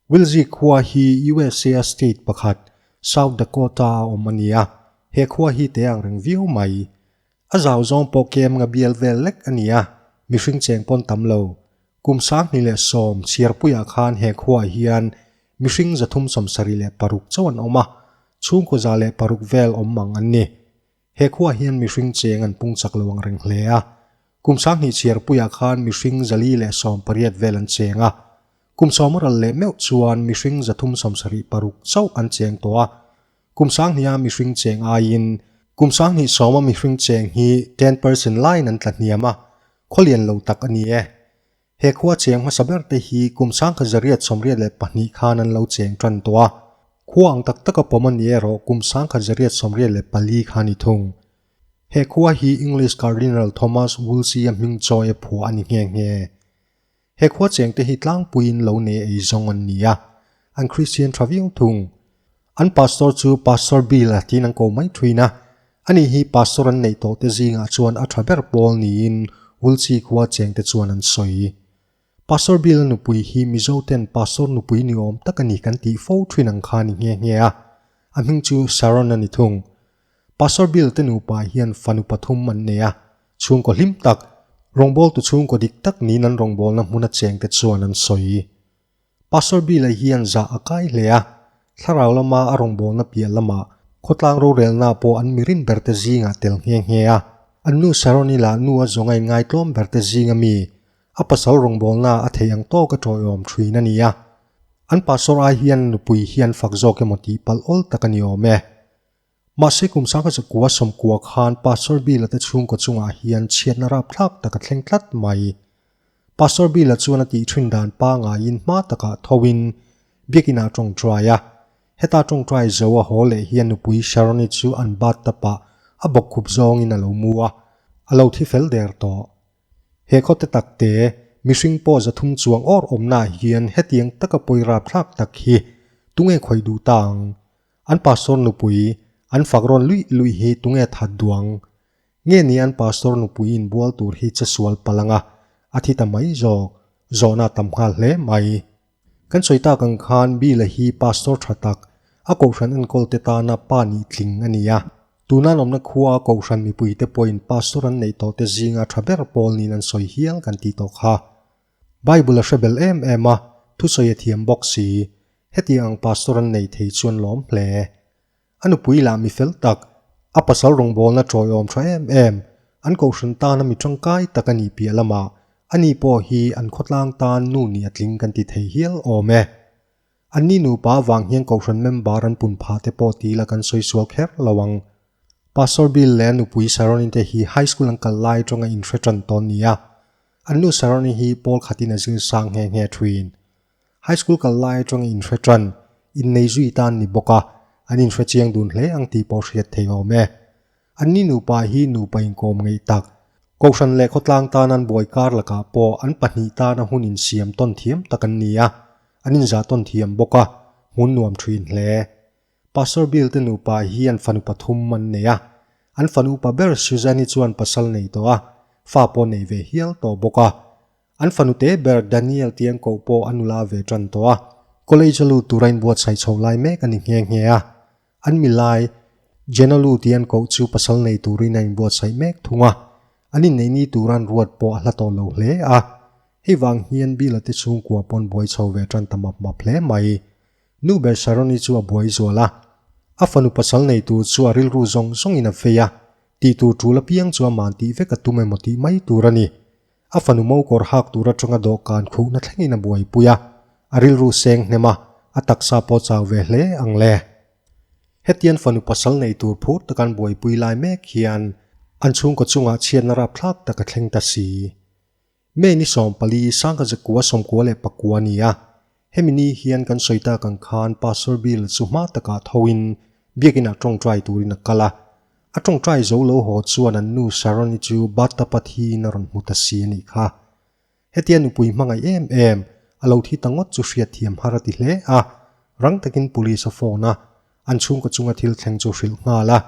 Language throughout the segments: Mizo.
Wilzy khua hi usa a state pakhat South Dakota a awm a ni a, he khua hi te ang reng viau mai. A zau zawng pawh kem nga bial vel lek a ni a, mihring cheng pawn tam lo. Kum sanghnih leh sawm chhiarpui ah khan he khuaah hian mihring zathum sawmsarih leh paruk chauh an awm a, chhungkua za leh paruk vel awm mang an ni. He khuaa hian mihring cheng an pung chak lo ang reng hle a. Kum sanghnih chhiarpuiah khan mihring zali leh sawm pariat vel an cheng a. Kum sawma ral leh meuh chuan mihring zathum sawm sarih paruk chauh an cheng tawh a. Kum sanghnia mihring cheng aiin kum sanghnih sawma mihring cheng hi ten person lain an tla hniam a, khawlian lo tak a ni e. He khua cheng hmasa ber te hi kum sangkhat zariat sawmriat leh pahnih khan an lo cheng tan tawh a, khua ang tak tak a pawm a ni erawh kum sangkhat zariat sawmriat leh pali kha ni thung. He khua hi English Cardinal Thomas Wolsey a hming chawi a phua a ni nghe nghe. He khua cheng te hi tlangpuiin lo nei ei zawng an ni a, an Kristian tha viau thung. An pastor chu Pastor Bill a tiin an ko mai thuin a, a ni hi pastor an neih tawh te zingah chuan a tha ber pawl niin Wulchi khua chengte chuan an sawi. Pastor Bill-a nupui hi Mizoten pastor nupui ni awm tak a ni kan tih fo thuin ang kha a ni nghe nghe a, a hming chu Sharon a ni thung. Pastor Bill te nupa hian fanu pathum an nei a, chhungkaw hlim tak, rawngbawltu chhungkaw dik tak niin an rawngbawlna hmuna chengte chuan an sawi. Pastor Bill-a hian zah a kai hle a, thlarau lama a rawngbawlna piah lamah khawtlang rorelna pawh an mirin berte zingah tel nghe nghe a. A nu Sharon ila nu a zawngain ngaitlawm berte zing a mi, a pasal rawngbawlna a theih ang tawk a tawihawm thin a ni a. An pastor ai hian nupui hian fak zawk emaw tih palh awl tak a ni awm e. Mahse kum sang kha chu kua sawmkua khan Pastor Bila te chhungkaw chungah hian chhiatna rap thlak taka thleng tlat mai. Pastor Bila chuan a tih thin dan pangaiin hma takah thoin Biakinah tawngtai a. Heta tawngtai zo a haw leh hian nupui Sharoni chu an battapah a bawk khup zawngin a lo mu a, a lo thi fel der tawh. He khawte takte, mihring pawh za thum chuang awr awmnah hian hetiang taka pawi rap thlak tak hi tunge khawih duh ta ang? An pastor nupui an fak rawn luih luih hi tunge that duang? Nge ni an pastor nupuiin bual tur hi che sual palh anga a thi ta mai zawk? Zawhna a tam nghal hle mai. Kan sawi tak ang khan Bile hi pastor tha tak, a kohhran enkawlte tana pa nih tling a ni a. Tuna an awmna khua kohhran mipuite pawhin pastor an neih tawhte zinga tha ber pawl niin an sawi hial kan ti tawh kha. Bible a hre bel em em a, thusawi a thiam bawk si. Hetiang ang Pastor an nei thei chuan lawm hle. A nupui lah mi fel tak, a pasal rawngbawlna tawihawm tha em em. An kohhran tana mi tangkai tak a nih piah lamah, ani pawh hi an khawtlang tan nu nih a tling kan ti thei hial awm e. An ni nupa vanghian kohhran member an pun pha te pawh ti ila kan sawi sual kher lo ang. Pastor Bill leh a nupui Saronnie te hi high school an kal lai aṭanga in hre ṭan tawn ni a. An nu Saronnie hi Paul khatin a zir sang nghe nghe ṭhin. High school kal lai aṭanga in hre ṭan, innei zui tan ni bawk a, an in hre chiang dun hle ang tih pawh hriat theih awm e. An ni nupa hi nupa inkawm ngeih tak. Kohhran leh khawtlang tanan buai kar lakah pawh an pahnih tana hun insiam tawn thiam tak an ni a, an inzah tawn thiam bawk a, hmun nuam thin hle. Pastor Bill te nupa hi an fanu pathum an nei a. An fanu pa ber Susan hi chuan pasal nei tawh a, fa pawh nei ve hial tawh bawk a. An fanute ber Daniel tih an koh pawh a nula ve tan tawh a. College a lut tura inbuatsaih chhoh lai mek a ni nghe nghe a. An milai Jenalu tih an koh chu pasal nei turin a inbuatsaih mek thung a, an inneihni turan ruat pawh a hla tawh lo hle a. Hei vang hian Bilate chhung kua pawn buai chho ve tan ta map map hle mai. Nu Bersaroni chu a buai zual a, a fanu pasal nei tur chu a rilru zawng zawngin a fei a, tih tur tul apiang chu a man tih vek a tum emaw tih mai tur a ni. A fanu mo kawr hak tur atanga dawhkan khuhna thlengin a buaipui a, a rilru seng hnem a, a taksa pawh chau ve hle ang le. Hetian fanu pasal nei tur phur taka an buaipui lai mek hian an chhungkaw chungah chhiatna rapthlak taka thleng ta si. May ni sawmpali, Sangkazekua sawmkua leh pakua nia Hemi ni hian kan sawi tak ang khan Pastor Bill chu hma takah thoin Biakin ah tawngtai turin a kal a. A tawngtai zo lo haw chuan an nu Sharon-i chu Battapat hiin a rawn hmu ta si a nih kha. Hetia nupui hmangaih em em, a lo thi ta ngawt chu hriatthiam har a ti hle a. Rang takin Police a phone a, An chhungkaw chunga thil thleng chu hrilh nghal a,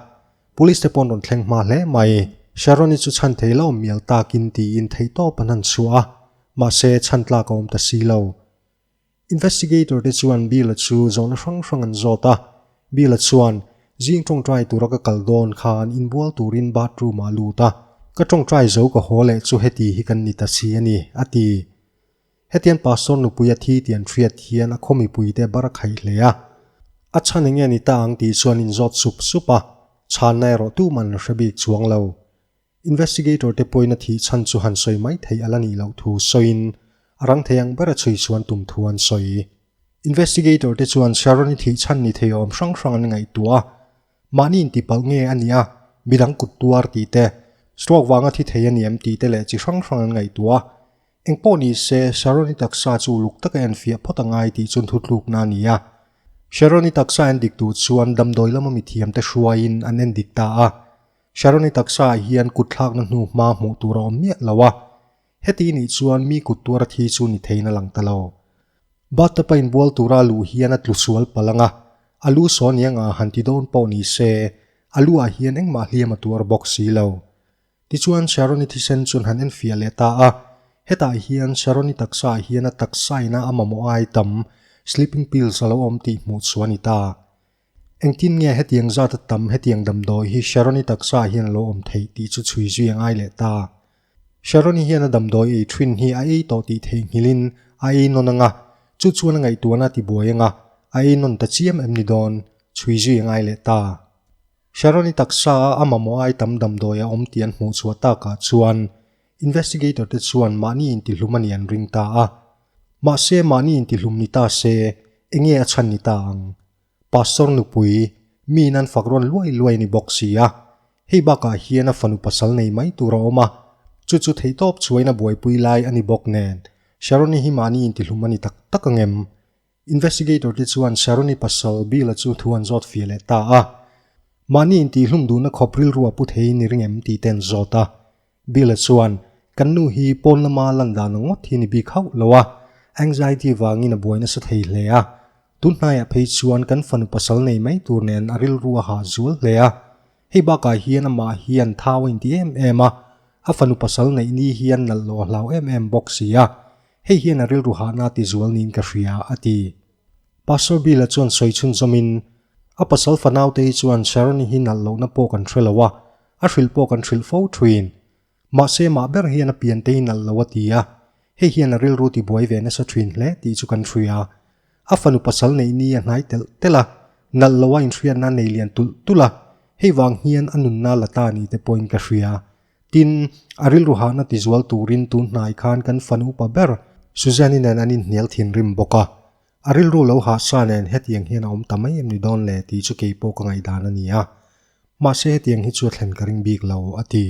Police te paw'n rawn thleng hma hle mai. Sharon-i chu chhan thei lo mial takin tiin theihtawp an han chhuah a, mahse chhan tlak a awm ta si lo. Investigator te chuan Bill-a chu zawhna hrang hrang an zawt a, Bill-a chuan, Zing tawngtai tura ka kal dawn kha an inbual turin bathroom-ah a lut a, ka tawngtai zo ka haw leh chu heti hi kan ni ta si a ni, a ti. Hetian Pastor nupuia thi ti an hriat hian a khaw mipui te bar a khaih hle a, a chhan enge ni ta ang tih chuan in zawt sup sup a, chhanna erawh tum an la hre bik chuang lo. Investigator te pawhin a thih chhan chu han sawi mai thei a la nih loh thu sawiin a rang thei ang ber a chhui chuan tum thu an sawi. Investigator te chuan Sharon i thih chhan ni thei awm hrang hrang an ngaihtuah a, mahni intipalh nge a nia, midang kut tuar tih te, stroke vanga thi thei a ni em tih te leh chi hrang hrang an ngaihtuah a. Engpawh ni se, Sharon i taksa chu uluk taka en fiah phawt a ngai tih chu nthutlukna a ni a. Sharon i taksa en dik tur chuan damdawi lama mithiamte hruaiin an en dik ta a. Sharon i taksa ah hian kut thlakna hnu hma hmuh tur a awm miah lo a. Heti nih chuan mi kut tuara thi chu ni theiin a lang ta lo. Bathtab a inbual tura lu hian a tlu sual palh ang a, a lu saw aniang a han ti dawn pawh ni se, a lu ah hian engmah hliam a tuar bawk si lo. Tichuan Sharon-i thisen chu han en fiah leh ta a. Hetah hian Sharon-i taksaah hian a taksaina a mamawh ai tam, sleeping pills, a lo awm tih hmuh chhuah a ni ta. Engtin nge hetiang zata tam, hetiang damdawi hi Sharon-i taksaah hian a lo awm thei tih chu chhui zui a ngai leh ta. Sharon-i hian a damdawi ei thin hi a ei tawh tih theihnghilhin a ei nawn anga, chu chuan a ngaihtuahna a tibuai anga, a ei nawn ta chiam em ni dawn, chhui zui a ngai leh ta. Sharon-i taksa a mamawh a aitam damdawi a awm tih an hmuh chhuah takah chuan investigator-te chuan mahni intihlum a nih an ring ta a. Mahse, mahni intihlum ni ta se, enge a chhan ni ta ang? Pastor nupui, miin an fak rawn luai luai a ni bawk si a. Hei bakah hian a fanu pasal nei mai tur a awm a, chu chu theihtawp chhuain a buaipui lai a ni bawk nen, Sharon-i hi mahni intihlum a ni tak tak ang em? Investigator te chuan Sharoni pasal Bill-a chu thu an zawt fia leh ta a. Mahni intihhlum duhna khawp rilru a pu thei ni reng em tihte an zawt a. Bill-a chuan, Kan nu hi pawn lama lan dan ang ngawt hi a ni bik hauh lo a. Anxiety vangin a buai nasa thei hle a. Tun hnaiah phei chuan kan fanu pasal nei mai tur nen a rilru a hah zual hle a. Hei bakah hian amah hian thau a inti em em a, a fanu pasal neihni hi a nalh lawhhlau em em bawk si a. Hei hian a rilru hahna ti zual niin ka hria, a ti. Pastor Bill-a chuan sawi chhunzawm in, A pasal fanaute hi chuan Sharon-i hi nalh lohna pawh kan hre lo a, a hrilh pawh kan hrilh fo thuin. Mahse, mah ber hian a piante hi nalh lo, a ti a. Hei hian a rilru tibuai ve nasa thin hle tih chu kan hria. A fanu pasal neih ni a hnai telh telh a, nalh loha inhriatna nei lian tulh tulh a, hei vang hian a nunna la ta ni te pawhin ka hria. Tin, a rilru hahna tizual turin tunhnai khan kan fanupa ber Suzanne-i nen an inhnial thinrim bawk a. A rilru lo hah sa nen hetiang hian a awm ta mai em ni dawn le tih chu kei pawh ka ngaihdan a ni a. Mahse hetiang hi chu a thlen ka ring bik lo, a ti.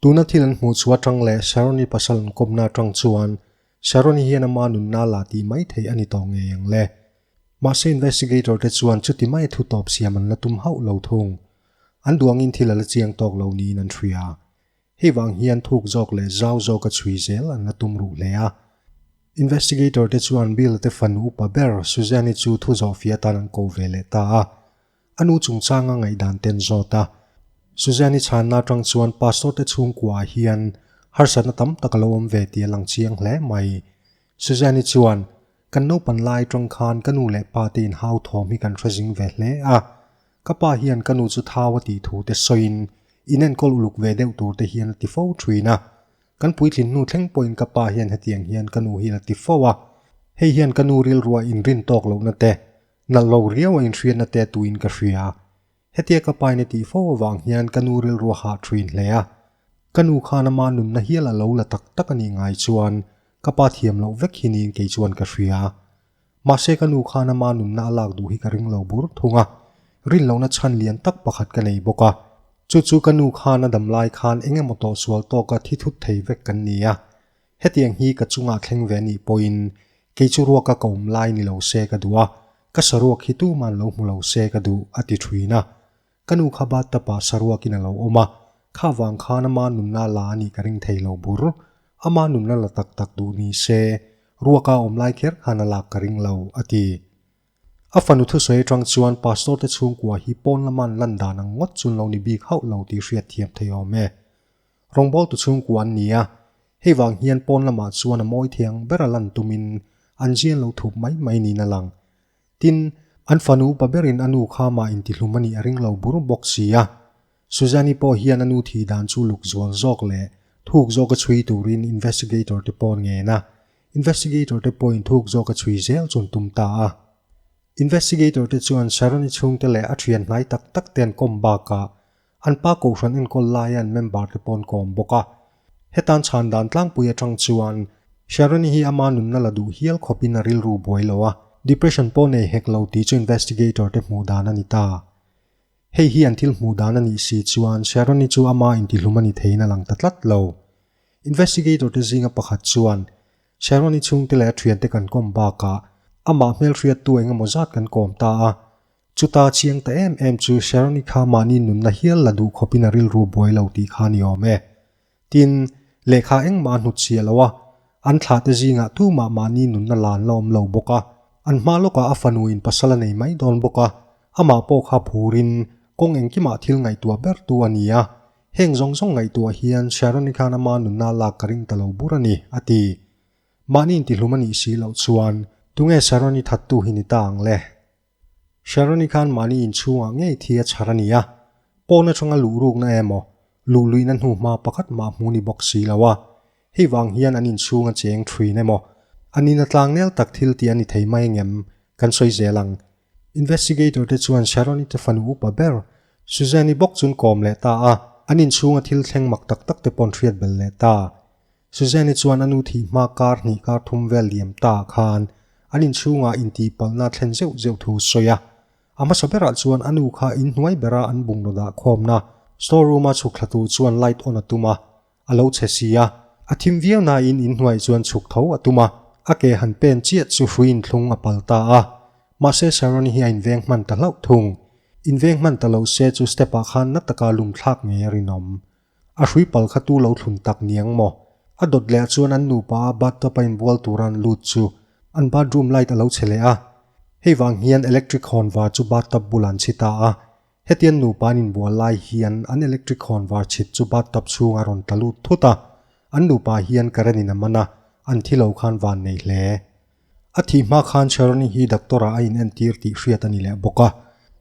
Tuna thil an hmuh chu atang leh Sharon-i pasal an kawmna atang chuan, Sharon-i hian ama nunna la ti mai thei a ni tawh ngei ang le. Mahse investigator-te chuan chuti maia thu tawp siam an la tum hauh lo thung. An duangin thil a la chiang tawk lo niin an hria a. Hei vang hian thuk zawk leh zau zawka chhui zel an la tum ruh hle a. Investigator-te chuan Bill-te fanu upa ber Suzanne-i chu thu zawh fia tan an ko ve leh ta a. A nu chungchanga ngaihdan ten zawt a. Suzanne-i chhanna atang chuan Pastor-te chhungkuaah hian harsatna tam tak a lo awm ve tih a lang chiang hle mai. Suzanne-i chuan, Kan naupan lai atang khan ka nu leh pa te in hauthawm hi kan hre zing ve hle a. Ka pa hian ka nu chu thau a tih thu te sawiin in enkawl uluk ve deuh tur te hian a ti fo thin a. Kan puitlin hnu thleng pawhin ka pa hian hetiang hian ka nu hi a la ti fo a. Hei hian ka nu rilruah inrin tawk lohna te, Nallo riau a inhriatna te tuin ka hria a, hetia ka pain a tih fo avang hian ka nu rilrua hah ṭhin hle a. Ka nu khan ama nunna hial a lo la tak tak a nih ngai chuan ka pa thiam loh vek hi niin kei chuan ka hria a. Mahse ka nu khan ama nunna a lak duh hi ka ring lo bur thung a, rin lohna chhan lian tak pakhat ka nei bawk a. Chu chu ka nu khan a dam lai khan eng emaw tawh sual tawka thi thut thei vek kan ni a. Hetiang hi ka chungah thleng ve nih pawhin kei chu ruak a kawm lai ni lo se ka duh a, ka saruak hi tuman lo hmu lo se ka duh, a ti ṭhin a. Ka nu kha bathtub ah saruakin a lo awm a, kha vang khan ama nunna la a nih ka ring thei lo bur. Ama nunna la tak tak duh ni se, ruak a awm lai kher khan a lak ka ring lo, a ti. A fanu thusawi aṭang chuan Pastor te chhungkua hi pawn lama an lan dan ang ngawt chun lo ni bik hauh lo tih hriat thiam thei awm e. Rawngbawl tu chhungkua an ni a, hei vang hian pawn lamah chuan a mawi thiang ber a lan tumin an zian lo thup mai mai niin a lang. Tin, an fanu pa berin a nu kha mah intihlum a nih a ring lo bur bawk si a. Suzanne-i pawh hian a nu thi dan chu luk zual zawk leh thuk zawk a chhui turin investigator te pawn ngen a, investigator te pawhin thuk zawk a chhui zel chuan tum ta a. Investigator te chuan Sharon-i chhungte leh a thianhnai tak tak te an kawm bakah An pa kohhran enkawl laiin member te paw'n ka awm bawk a. Hetan chhan dan tlangpui atang chuan Sharoni hi ama nunna la duh hial khawpin a rilru buai lo a, depression pawh nei hek lo tih chu investigator te hmuh dan a ni ta. Hei hi an thil hmuh dan a nih si chuan Sharoni chu ama intihlum a ni theiin a lang ta tlat lo. Investigator te zinga pakhat chuan Sharoni chhungte leh a thiante kan kawm bakah amah hmelhriattu engemaw zat kan kawm ta a, Chuta chiang ta em em chu Sharon-i kha mahni nunna hial la duh khawpin a rilru buai lo tih kha a ni awm e. Tin, lehkha engmah a hnut chhiah lo a, an thlate zingah tumah mahni nunna lan la awm lo bawk a. An hma lawkah a fanu in pasal a nei mai dawn bawk a, amah pawh kha phurin kawng engkimah thil ngaihtuah bertu a ni a. Heng zawng zawng ngaihtuah hian Sharon-i khan ama nunna lak ka ring ta lo bur a ni, a ti. Mahni intihlum a nih si loh chuan, Tunge Sharon-i thattu hi ni ta ang le? Sharon-i khan mahni inchhungah ngei thi a chhar a ni a, pawn atanga luhrukna emaw luh luihna hnu hma pakhat mah hmu ni bawk si lo a, hei vang hian an inchhung a cheng thin emaw an in a tlang nel tak thil tih a ni thei mai ang em kan sawi zel ang. Investigator te chuan Sharon-i te fanu upa ber Suzanne-i bawk chun kawm leh ta a, an inchhunga thil thleng mak tak tak te paw'n hriat bel leh ta. Suzanne-i chuan a nu thih hma kar hnih kar thum vel liam ta khan an inchhungah intihpalhna thlen zeuh zeuh thu sawi a. A hmasa berah chuan a nu kha in hnuai berah an bungraw dah khawmna store room-a chhuk thla tur chuan light on a tum a, a lo chhe si a. A thim viau nain in hnuai chuan chhuk tho a tum a, a ke han pen chiat chu hruiin thlung a pal ta a. Mahse Sharon-i hi a inveng hman ta hlauh thung. Inveng hman ta lo se chu step-ah khan na taka lum thlak ngei a rinawm. A hrui pal kha tu lo thlun tak niang maw? A dawt leh ah chuan an nupa bathtub a inbual tura an lut chu an bathroom light a lo chhe leh a. Hei vang hian electric hawn var chu bathtub bulah an chhi ta a. Hetian nupa an inbual lai hian an electric hawn var chhit chu bathtub chhungah a rawn ta lut thut a. An nupa hian current in a man a, an thi lo khan van nei hle. A thih hma khan Sharoni hi doctor-ah a inentir tih hriat a ni leh bawk a.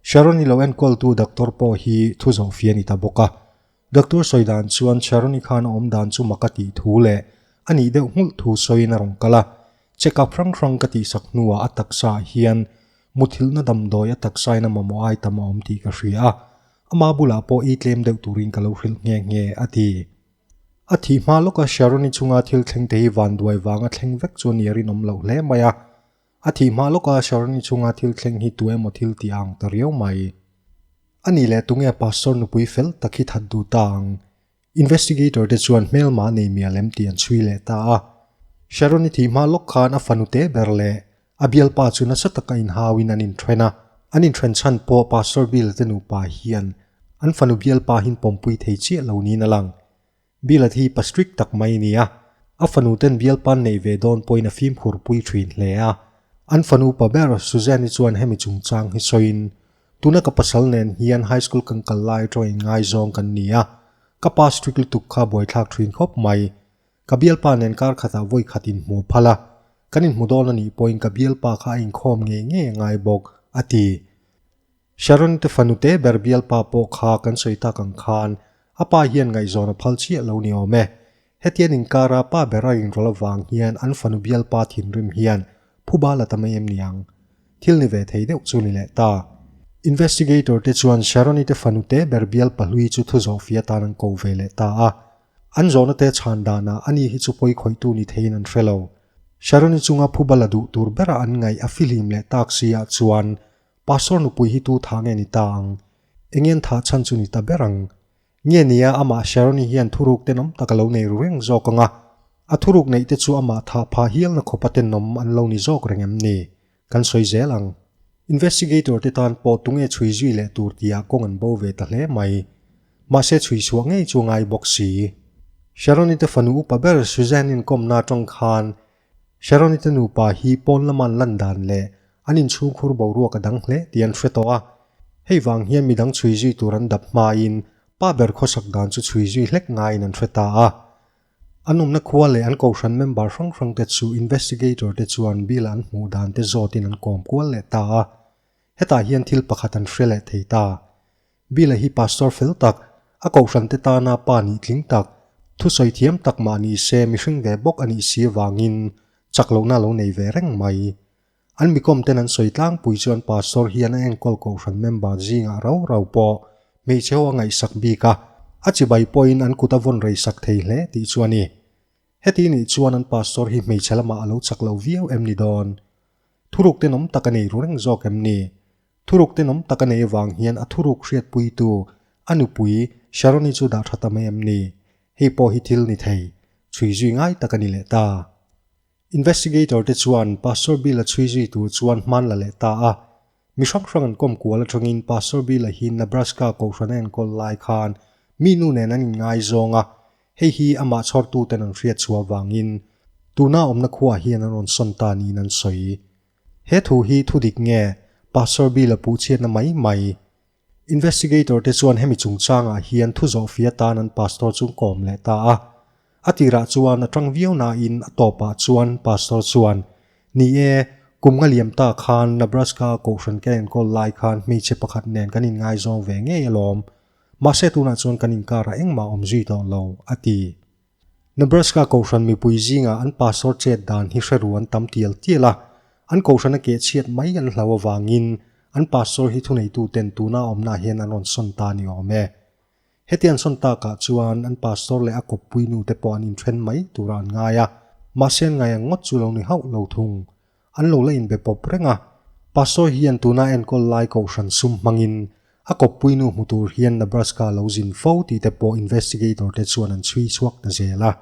Sharoni lo enkawltu doctor pawh hi thu zawh fia ni ta bawk a. Doctor sawi dan chuan Sharoni khan a awm dan chu maka tih thu leh a nih deuh nghulh thu sawiin a rawn kal a. Check up hrang hrang ka tihsak hnuah a taksaah hian muthilhna damdawi a taksain a mamawh ai tam a awm tih ka hria a. Amah bulah pawh ei tlem deuh turin ka lo hrilh nghe nghe a ti. A thih hma lawka Sharon-i chunga thil thleng te hi vanduai vanga thleng vek chu a ni a rinawm loh hle mai a. A thih hma lawka Sharon-i chunga thil thleng hi tu emaw thil ti a ang ta riau mai. A nih leh tunge Pastor nupui fel tak hi that duh ta ang? Investigator te chuan hmelma a nei miah lem tih an chhui leh ta a. Sharon-i thih hma lawk khan a fanute ber leh A bialpa chu nasa taka inhauin an inṭhen a. An inṭhen chhan pawh Pastor Bill te nupa hian an fanu bialpa hin pawmpui thei chiah lo niin a lang. Bill-at hi pa strict tak mai a ni a, a fanute'n bialpa'n neih ve dawn pawhin a fimkhur pui ṭhin hle a. An fanupa ber, Suzanne-i chuan hemi chungchang hi sawiin, Tuna ka pasal nen hian high school kan kal lai aṭangin ngaizawng kan ni a. Ka pa strict lutuk kha buaithlak ṭhin khawp mai. Ka bialpa nen kar khatah vawi khat in hmuh phal a, kan in hmu dawn a nih pawhin ka bialpa kha a inkhawm ngei ngei a ngai bawk, a ti. Sharon te fanu te ber bialpa pawh kha kan sawi tak ang khan a pa hian ngaihzawn a phal chiah lo ni awm e. Hetian inkara pa ber a rinrawl avang hian an fanu bialpa thinrim hian phu bal a ta mai em niang? Thil ni ve thei deuh chu ni leh ta. Investigator te chuan Sharon-i te fanu te ber bialpa hlui chu thu zawh fih atan an ko ve leh ta a. An zawnate chhan danah ani hi chu pawi khawihtu ni theiin an hre lo. Sharon-i chunga phu bala duh tur bera an ngaih a fihlim leh tak siah chuan, Pastor nupui hi tu tha nge ni ta ang? Engian tha chhan chu ni ta ber ang? Nge nia amah Sharon-i hian thuruk te nawm tak a lo nei ru reng zawk anga, a thuruk neihte chu amah thah pha hialna khawpa te nawm an lo ni zawk reng em ni? Kan sawi zel ang. Investigator te tan pawh tunge chhui zui leh tur tia kawng an bo ve ta hle mai. Mahse chhui chhuah ngei chu a ngai bawk si. Sharonite fanu upa ber Suzanne inkawmna atang khan Sharonite nupa hi pawn lama an lan dan leh an inchhungkhur boruak a dang hle tih an hre tawh a. Hei vang hian midang chhui zui tur an dap hmain pa ber khawsak dan chu chhui zui hlek ngaiin an hre ta a. An awmna khua leh an kohhran member hrang hrang te chu investigator te chuan Bill-a an hmuh dan te zawtin an kawm kual leh ta a. Hetah hian thil pakhat an hre leh thei ta. Bill-a hi pastor fel tak, a kohhran te tana pa nih tling tak, thusawi thiam tak mah ni se mihring ve bawk a nih si avangin chak lohna lo nei ve reng mai. An mikawmten an sawi tlangpui chuan Pastor hian a enkawl kohhran member zingah rau rau pawh hmeichhe ho a ngaihsak bik a, a chibai pawhin an kut a vawn rei sak thei hle tih chu a ni. Heti nih chuan an Pastor hi hmeichhe lamah a lo chak lo viau em ni dawn? Thuruk ten awm tak a nei ru reng zawk em ni? Thuruk ten awm tak a nei avang hian a thuruk hriatpuitu a nupui Sharon-i chu dah tha ta mai em ni? Hei pawh hi thil ni thei, chhui zui ngai tak a ni leh ta. Investigator te chuan Pastor Bill-a chhui zui tur chuan hmaan la leh ta a. Mi hrang hrang an kawm kual aṭangin Pastor Bill-a hi Nebraska kohhran a enkawl lai khan mi nu nen an inngai zawng a, hei hi amah chhawrtuten an hriat chhuah avangin tunah awmna khuaah hian an rawn sawn ta niin an sawi. He thu hi thudik nge? Pastor Bill-a puhchhiatna mai mai. Investigator te chuan hemi chungchangah hian thu zawh fia tan an Pastor chu kawm leh ta a. A tirah chuan a ṭang viau nain a tawpah chuan Pastor chuan, Ni e, kum nga liam ta khan Nebraska kohhran kan enkawl lai khan hmeichhe pakhat nen kan inngaizawng ve ngei alawm. Mahse tunah chuan kan inkar a engmah awm zui tawh lo, a ti. Nebraska Kohhran mipui zinga an pastor chet dan hi hreru an tam tial tial a, an Kohhran a ke chhiat mai an hlau avangin an pastor hi thuneituten tuna awmna ah hian an rawn sawn ta ni awm e. Heti an sawn tak ah chuan an pastor leh a kawppui nu te pawh an inthen mai tura an ngai a, mahse an ngai ang ngawt chu lo ni hauh lo thung. An lo la inbe pawp reng a. Pa Sawi hian tuna enkawl lai kohhran sum hmangin a kawppui nu hmu tur hian Nebraska lo zin fo tih te pawh investigator te chuan an chhui chhuak ta zel a.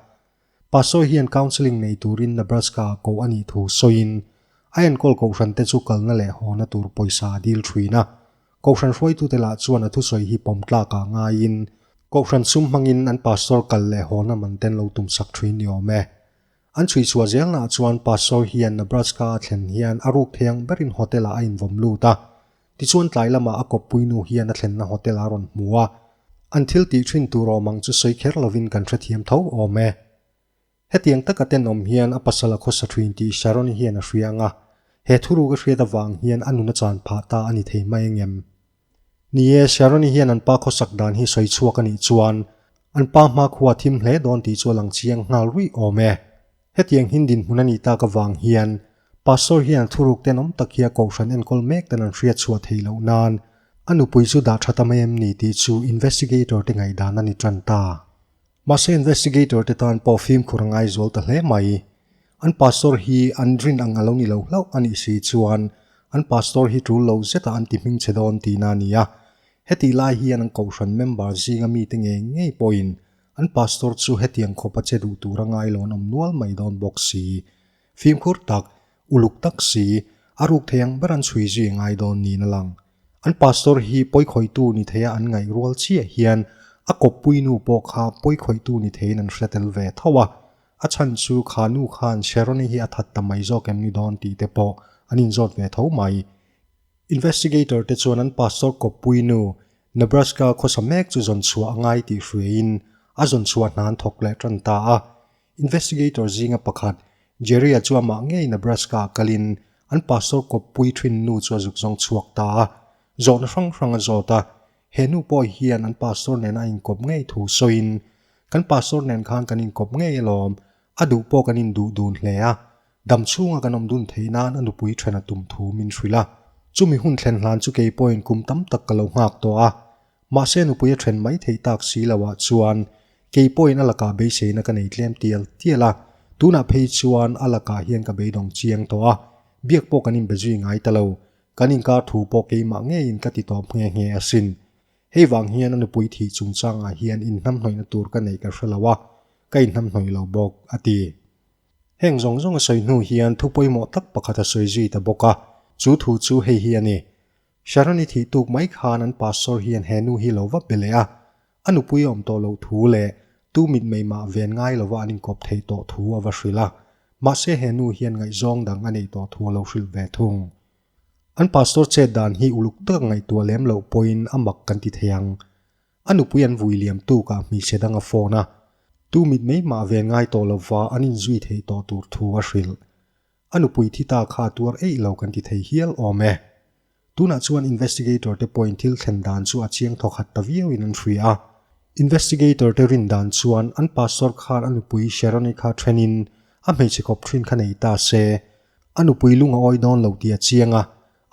Pa Sawi hian counselling nei turin Nebraska a koh a nih thu sawiin a enkawl kohhran te chu kalna leh hawna tur pawisa a dil thin a. Kohhran hruaitute lah chuan a thusawi hi pawm tlakah ngaiin kohhran sum hmangin an pastor kal leh hawna man te an lo tum sak thin ni awm e. An chhuihchhuah zelnaah chuan Pastor hian Nebraska-a thlen hian a rukpheng berin hotel-ah a invawm lut a. Tichuan tlai lamah a kawppui nu hian a thlenna hotel-ah a rawn hmu a. An thil tih thin tur awm ang chu sawi kher lovin kan hrethiam tho awm e. Hetiang taka tenawm hian a pasal a khawsa thin tih Sharon-i hian a hria anga, he thuruka hriat avang hian a nuna chan phah ta a ni thei mai engem? Ni e, Sharon-i hian an pa khawsak dan hi sawi chhuak a nih chuan an pa hma khua thim hle dawn tih chu a lang chiang nghal ruih awm e. Hetiang hin dinhmun a nih tak avang hian Pastor hian a thuruk ten awm tak hi a kohhran enkawl mek ten an hria chhuah thei loh nan a nupui chu dah that a mai em ni tih chu investigator te ngaihdan a ni tan ta. Mahse investigator te tan pawh fimkhur a ngai zual ta hle mai. An pastor hi an rin ang a lo ni lo hlauh a nih si chuan an pastor hi tul lo zeta an ti hming che dawn tihna a ni a. Hetih lai hian an Kohhran member zinga mite nge ngei pawhin an pastor chu hetiang khawpa che duh tur a ngai law'n awm nual mai dawn bawk si. Fimkhur tak, uluk tak si, a ruk thei ang ber an chhui zui ngai dawn niin a lang. An Pastor hi pawikhawitu ni theia an ngaih rual chiah hian a kawppui nu pawh kha pawikhawitu ni theiin an hre tel ve tho a. A chhan chu kha nu khan Sherony hi a that ta mai zawk em ni dawn tih te pawh an inzawt ve tho mai. Investigator te chuan an Pastor kawppui nu Nebraska khawsa mek chu zawn chhuah a ngai tih hruaiin a zawn chhuah hnan thawk leh tan ta a. Investigator zinga pakhat, Jerry-a chu amah ngei Nebraska-ah kal in an pastor kawp puithin nu chu a zuk zawng chhuak ta a, zawhna hrang hrang a zawt a. He nu pawh hian an pastor nen a inkawp ngei thu sawi in, Kan pastor nen khan kan inkawp ngei alawm, a duh pawh kan induh dun hle a, dam chhunga kan awm dun theih nan a nupui then a tum thu min hrilh a. Chumi hun thlen hlan chu kei pawhin kum tam tak ka lo nghak tawh a. Mahse nupui a then mai theih tak si lo ah chuan kei pawhin a lakah beiseina ka nei tlem tial tial a, tunah phei chuan a lakah hian ka beidawng chiang tawh a, biak pawh kan inbe zui ngai ta lo, kan inkar thu pawh keimah ngeiin ka ti tawp nghe nghe a sin. Hei vang hian a nupui thih chung changah hian inhnamhnawihna tur ka neih ka hre lo a, ka inhnamhnawi lo bawk, a ti. Heng zawng zawng a sawi hnu hian thu pawimawh tak pakhat a sawi zui ta bawk a, chu thu chu hei hi a ni. Sharon-i thih tuk mai khan an pastor hian he nu hi lo va be leh a, a nupui a awm tawh loh thu leh tu mit mai mah ven ngai lova an inkawp thei tawh thu a va hrilh a, mahse he nu hian ngaihzawng dang a neih tawh thu a lo hrilh ve thung. An pastor chet dan hi uluk taka ngaihtuah lem loh pawhin a mak kan ti thei ang. A nupui an vui liam tukah hmeichhe dang a phone a, tu mit mai mah ven ngai tawh lova an inzui thei tawh tur thu a hrilh. A nupui thi ta kha tuar eih lo kan ti thei hial awm e. Tunah chuan investigator te pawhin thil thlen dan chu a chiang thawkhat ta viauin an hria a. Investigator te rin dan chuan an pastor khan a nupui Sharon-i kha thenin a hmeichhe khawp thin kha nei ta se. A nupui lung a awi dawn lo ti a chiang a.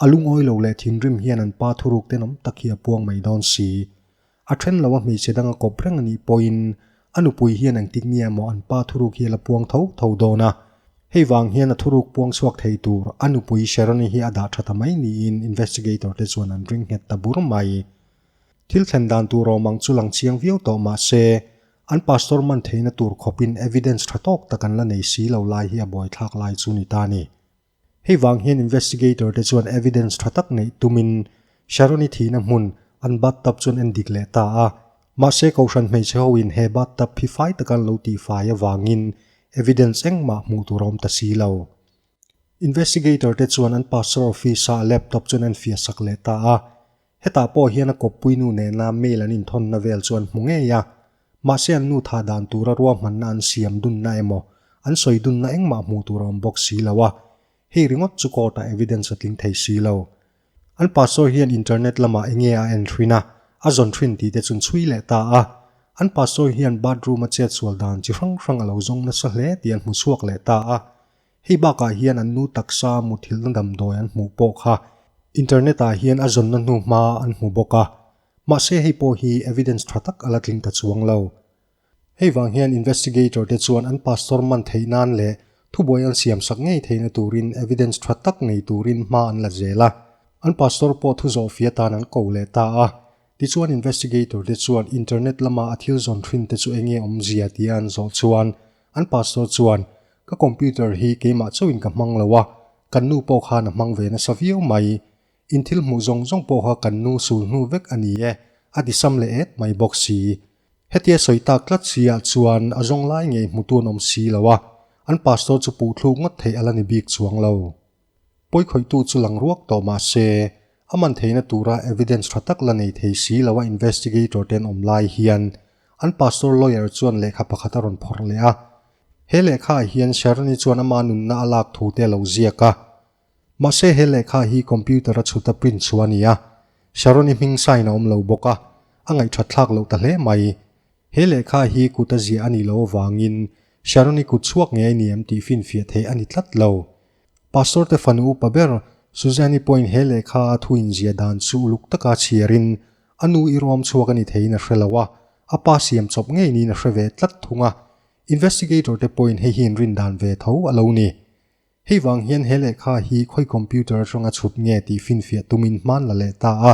A lungawi lo leh thinrim hian an pa thuruk ten awm tak hi a puang mai dawn si. A then lo a hmeichhe danga kawp reng a nih pawhin a nupui hian ang tik nia maw an pa thuruk hi a la puang tho tho dawn a. Hei vang hian a thuruk puang chhuak thei tur a nupui Sharoni hi a dah tha ta mai niin investigator te chuan an ring nghet ta bur mai. Thil thlen dan tur awm ang chu lang chiang viau tawh mahse, an pastor man theihna tur khawpin evidence tha tawk tak an la nei si lo lai hi a buaithlak lai chu ni ta ni. Hei vang hian investigator te chuan evidence tha tak neih tumin Sharon-i thihna hmun an bathtub chuan en dik leh ta a. Mahse Kohhran hmeichhe hoin he bathtub phi fai taka an lo tih fai avangin evidence engmah hmuh tur a awm ta si lo. Investigator te chuan an pastor office-a a laptop chuan en fiahsak leh ta a. Hetah pawh hian a kawppui nu nena mail an inthawnna vel chu an hmu ngei a. Mahse an nu tha dan tura ruahmanna an siam dunna emaw, an sawi dunna engmah hmuh tur a awm bawk si lo a, hei ringawt chu court-ah evidence a tling thei si lo. An pa sawi hian internet lamah eng nge a en hrin a, a zawn hrin tih te chun chhui leh ta a. An pa sawi hian bathroom a chetsual dan chi hrang hrang a lo zawng nasa hle tih an hmu chhuak leh ta a. Hei bakah hian an nu taksa muthilna damdawi an hmuh pawh kha Internet-ah hian a zawnna hnu hma an hmu bawk a, mahse hei pawh hi evidence tha tak a la tling ta chuang lo. Hei vang hian investigator te chuan an pastor man theih nan leh thubuai an siam sak ngei theihna turin evidence tha tak nei turin hma an la zel a, an pastor pawh thu zawh fia tan an ko leh ta a. Tichuan investigator te chuan Internet lama a thil zawn thin te chu enge awmzia tia an zawh chuan An pastor chuan, Ka computer hi keimah chauhin ka hmang lo a, kan nu pawh khan a hmang ve nasa viau mai. In thil hmuh zawng zawng pawh kha kan nu sul hnu vek a ni e, a tisam leh et mai bawk si. Hetia sawi tak tlat sihah chuan a zawnglai ngei hmutu an awm si lo a, an pastor chu puhthluk ngawt theih a la ni bik chuang lo. Pawikhawitu chu lang ruak tawh mah se, a man theihna tura evidence tha tak la nei thei si lo a investigator ten awm lai hian an pastor lawyer chuan lehkha pakhat a rawn phawrh leh a. He lehkha ah hian Sharoni chuan ama nunna a lak thu te a lo ziak a. Mahse he lehkha hi computer a chhuta print chhuah a ni a. Sharoni hming sign a awm lo bawk a, a ngaih thatthlak loh ta hle mai. He lehkha hi kuta ziah a nih loh avangin Sharoni kut chhuak ngei a ni em tih finfiah theih a ni tlat lo. Pastor te fanu upa ber Susanne pawhin he lehkha a thu inzia dan chu uluk taka chhiarin, A nu i ruam chhuak a ni theiin a hre lo a, a pa siam chawp ngei niin a hre ve tlat thung a. Investigator te pawhin hei hi an rin dan ve tho a lo ni. Hei vang hian he lehkha hi khawi computer atanga chhut nge tih finfiah tumin hman la leh ta a.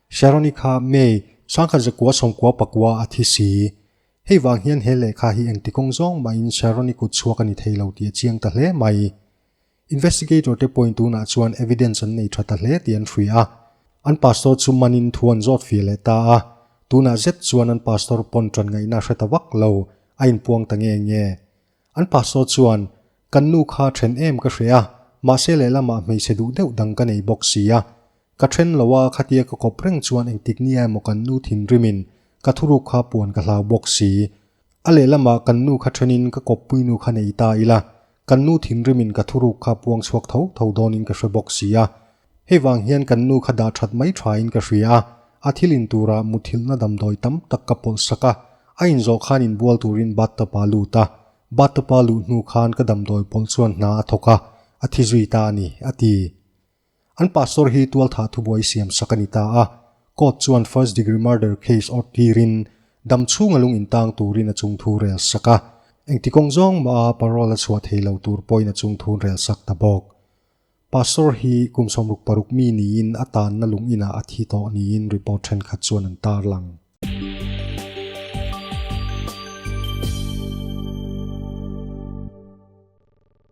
Sharonika, May, Sangkhat zakua sawmkua pakua a thi si. Hei vang hian he lehkha hi engti kawng zawng mahin Sharonik kut chhuak a ni thei lo tih a chiang ta hle mai. Investigator te pawhin tunah chuan evidence an nei tha ta hle tih an hria a. An pastor chu manin thu an zawt fir leh ta a. Tunah zet chuan an pastor pawn tanngaihna a hre ta vak lo, a inpuang ta nge nge. An pa saw chuan, Kan nu kha then em ka hre a, mahse lehlamah hmeichhe duh deuh dang ka nei bawk si a. Ka then lo a, khatia ka kawp reng chuan engtik nia emaw kan nu thinrimin ka thuruk kha puan ka hlau bawk si. A lehlamah kan nu kha thenin ka kawp puinu kha nei ta ila, kan nu thinrimin ka thuruk kha puang chhuak tho tho dawnin ka hre bawk si a. Hei vang hian kan nu kha dah that mai thain ka hria a, a thil in turah mutthilhna damdawi tam tak ka pawlh sak a, a in zawh khan in bual turin bathtub ah lut a, bathtub a luh hnu khan ka damdawi pawlh chuan hna a thawk a, a thi zui ta a ni, a ti. An pastor hi tualthah thubuai siam sak a ni ta a, court chuan first degree murder case awrh tirin dam chhunga lung in tang turin a chung thu rel sak a, engti kawng zawng maha parole a chhuah thei lo tur pawhin a chung thun rel sak ta bawk. Pastor hi kum sawmruk paruk mi niin a tanna lunginah a thi tawh niin report thenkhat chuan an tarlang.